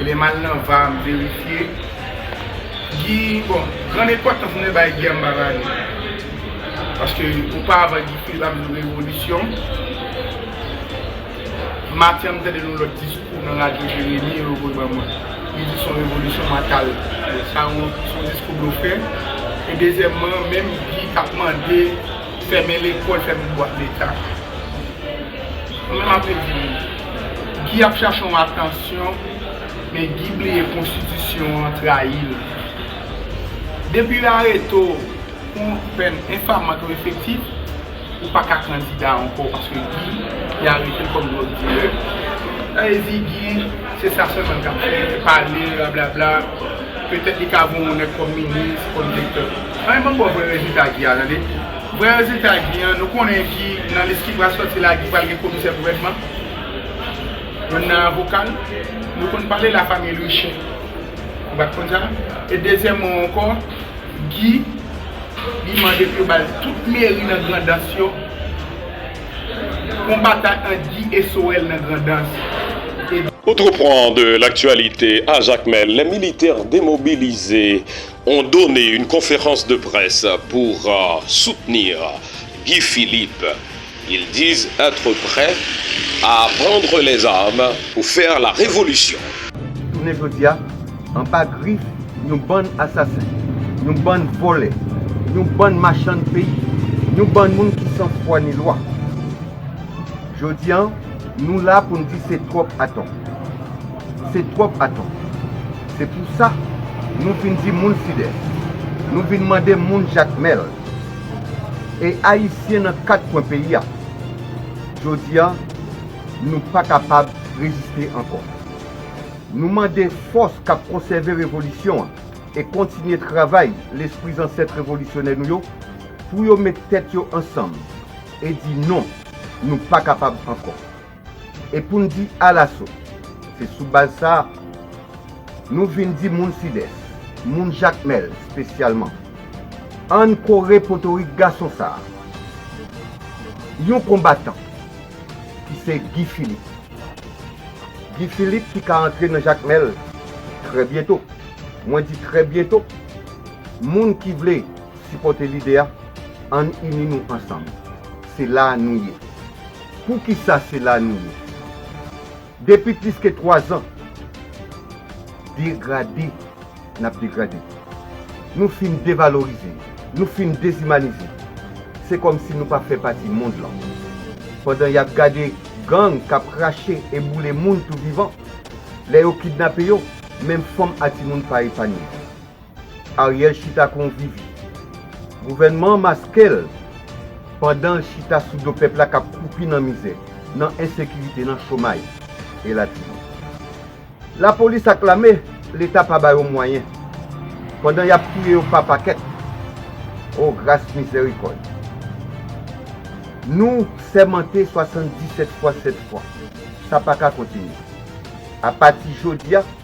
Lèm al nan var m verifye Guy bon gran epòt tan pou nèg bay Guy anba vale paske oparavan Guy Philippe ap di nou revolisyon maten an m tande yon lòt diskou nan radyo Jeremi yo voye ban mwen li di son revolisyon mwen tal sa son diskou blofè e dezyèmman menm Guy k ap mande fèmen lekòl fèmen bwat leta mwen menm ap redi nou. Guy ap chache yon atansyon men Guy bliye konstitisyon an trayi l. Depi yo arete w pou yon pèn enfamant ou efektif, ou pa ka kandida ankò paske Guy te arete l kòm dwòg dilè. Sa vle di Guy se sa sèlman l ka fè, pale, rablabla, petèt li ka voye yon nèg kòm minis, kòm direktè. An e banm ba w vrè rezilta Guy a tande. Vrè rezilta Guy an, nou konnen Guy nan lis ki pral sòti la Guy pral gen komisè gouvènman, youn nan avoka l, nou konn pale la famille Louichen, ou pat konn sa? E dezyèmman ankò Guy li mande pou yo bal tout meri nan Grandans yo, yon batay ant Guy e Soel nan Grandans e. Autre point de l'actualité a Jacmel, les militaires demobilises Ont donne une conférence de presse pour soutenir Guy Philippe, ils disent etre près à prendre les armes pour faire la révolution. Jounen jodi a, anba grif yon bann asasen, yon bann vòlè, yon bann machann peyi, yon bann moun ki san fwa ni lwa. Jodi a, nou la pou n di se twòp atò. Se twòp aton. Se pou sa nou vin di moun fidèl. Nou vin mande moun jakmèl. E ayisyen nan kat kwen peyi a. Jodi a nou pa kapab reziste ankò. Nou mande fòs k ap konsève revolisyon an e kontinye travay lespri zansèt revolisyonè nou yo pou yo met tèt yo ansanm e di non, nou pa kapab ankò. E pou n di alaso, se sou baz sa a, nou vin di moun Sidès, moun Jakmèl spesyalman, an n kore potorik gason sa a, yon konbatan, ki se Gi Filip. Gi Filip ki ka antre nan Jakmèl trè byento. Mwen di trè byento. Moun ki vle. Sipòte lide a, Ann ini nou ansanm! Se la a nou ye! Poukisa se la a nou ye? Depi plis ke twazan, degrade n ap degrade. Nou fin devalorize, nou fin dezimanize. Se kòm si nou pa fè pati mond lan. Pandan y ap gade gang k ap krache e boule moun tou vivan, lè yo kidnape yo, menm fanm a timoun pa epanye. Ariel chita kon vivi. Gouvènman an maske l pandan l chita sou do pèp la k ap kwoupi nan mizè, nan ensekirite, nan chomay, elatriye. Lapolis ak lame, Leta pa ba yo mwayen, pandan y ap touye yo pa pakèt. O gras mizèrikòd! Nou sèmante 77 fwa 7 fwa. Sa pa ka kontinye. Apati jodi a.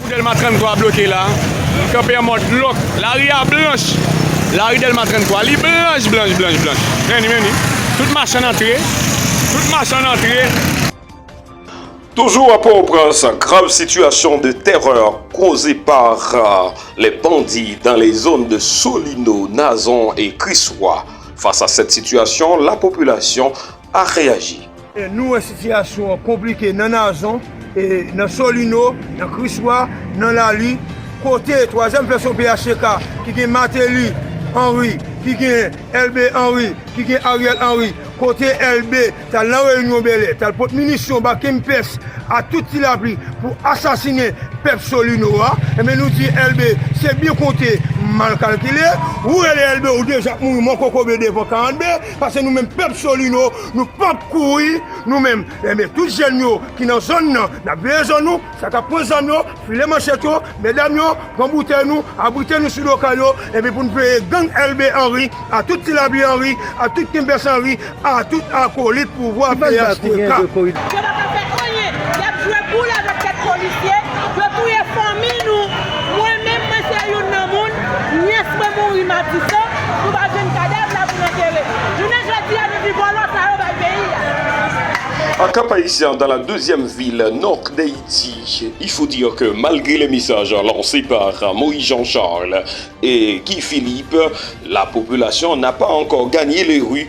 Pou Dèlma 33 bloke la, li kanpe an mòd lòk. Lari a blanch. Lari Dèlma 33, li blanch, blanch, blanch, blanch. Men li, men li. Tout machann antre. Tout machann antre. Toujou a Port-au-Prince, grave situation de terreur causée par les bandits dans les zones de Solino, Nazon et Christ-Roi. Face à cette situation, la population, pa reyaji. Nou wè sitiyasyon an konplike nan Nazon, nan Solino, nan Kriswa, nan Lali, kote twazyèm vèsyon phtk ki gen Mateli Henry, ki gen Elbe Henry, ki gen Ariel Henry, kote Elbe t al nan reyinyon Bèlè, t al pot minisyon ba Kempès ak tout Ti Lapli pou asasinen pèp Solino a, enben nou di Elbe se byen konte, mal kalkile, ou rele Elbe ou deja ap mouri mankokobe devan 42. Pase nou menm pèp solino nou pap kouri nou menm enben tout jèn yo ki nan zòn nan nap veye zòn nou sa kap pran zam yo file manchèt yo medam yo pran boutèy nou abrite nou sou do kay yo enben pou nou veye gang elbe anri a tout ti labi anri a tout kenbès anri a tout akolit pouvwa phtk. Yo pa ka fè anyen, yap jwe boul avèk kèk polisye, yo touye fanmi nou, mwen menm mwen se youn nan moun Nyès mwen mouri matisan, nou pa jwenn kadav la pou n antere. Jounen jodi a nou di vòlò sa yo bay peyi a. Antan paysan dan la dezyèm vil nò d'Ayiti, il faut dire que malgre les messages lancés par Moïse Jean Charles et Guy Philippe, la population n'a pas encore gagné les rues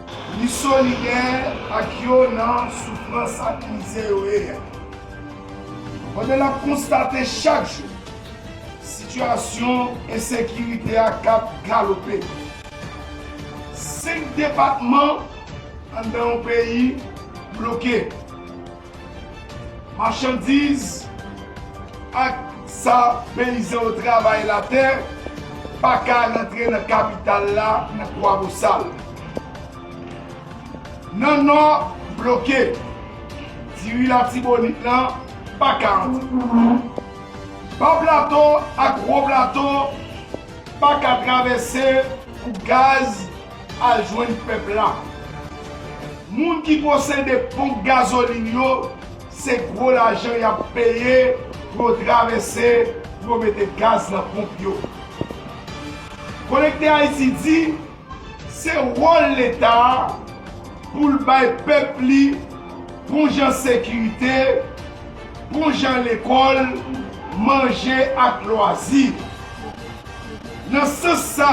Li solidè ak yo nan soufrans ak mizè yo ye a. Pandan n ap konstate chak jou sitiyasyon ensekirite a k ap galope, senk depatman anndan yon peyi bloke, Machandiz ak sa peyizan yo travay latè pa ka rantre nan kapital la nan Kwabosal. Nan Nò bloke, diri Latibonit lan pa ka antre. Ba Plato ak Wo Plato pa ka travèse pou gaz Al jwenn pèp la. Moun ki posede ponp gazolin yo se gwo lajan yap peye pou yo travèse pou yo mete gaz nan ponp yo. Konekte Ayiti di se wòl leta pou l bay pèp li bon jan sekirite, bon jan lekòl, manje ak lwazi. Nan sans sa.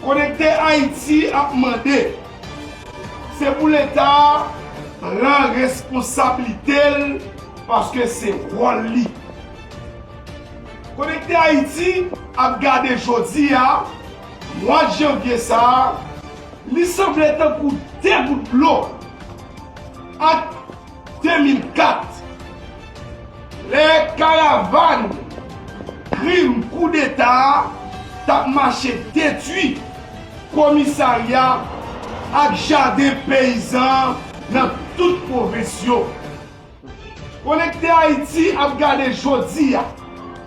Konekte Ayiti ap mande, se pou Leta a pran responsablite l paske se wòl li. Konekte Ayiti ap gade jodi a, mwa janvye sa a, li sanble tankou 2 gout dlo ak. 2004, lè karavàn krim koudeta a t ap mache detwi komisarya ak jaden peyizan nan tout pwovens yo. Konekte Ayiti ap gade jodi a.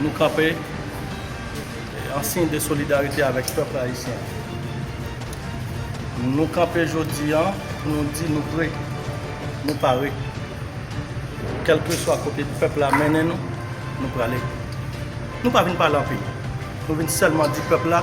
Nou kanpe an siy de solidarite avèk pèp ayisyen. Nou kanpe jodi an pou nou di nou pre, nou pare. Kèlkeswa kote pèp la mennen nou, nou prale. Nou pa vin pale anpil, nou vin sèlman di pèp la,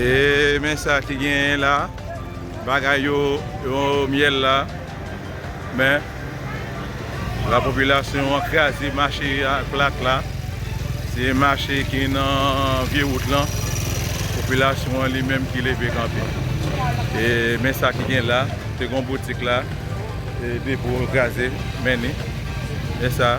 Eee men sa ki genyen la bagay yo yo myèl la men la popilasyon an kraze mache a plat la se mache ki nan vye wout lan popilasyon an li menm ki leve kanpe e men sa ki gen la te gon boutik la e depo kraze men ni men sa.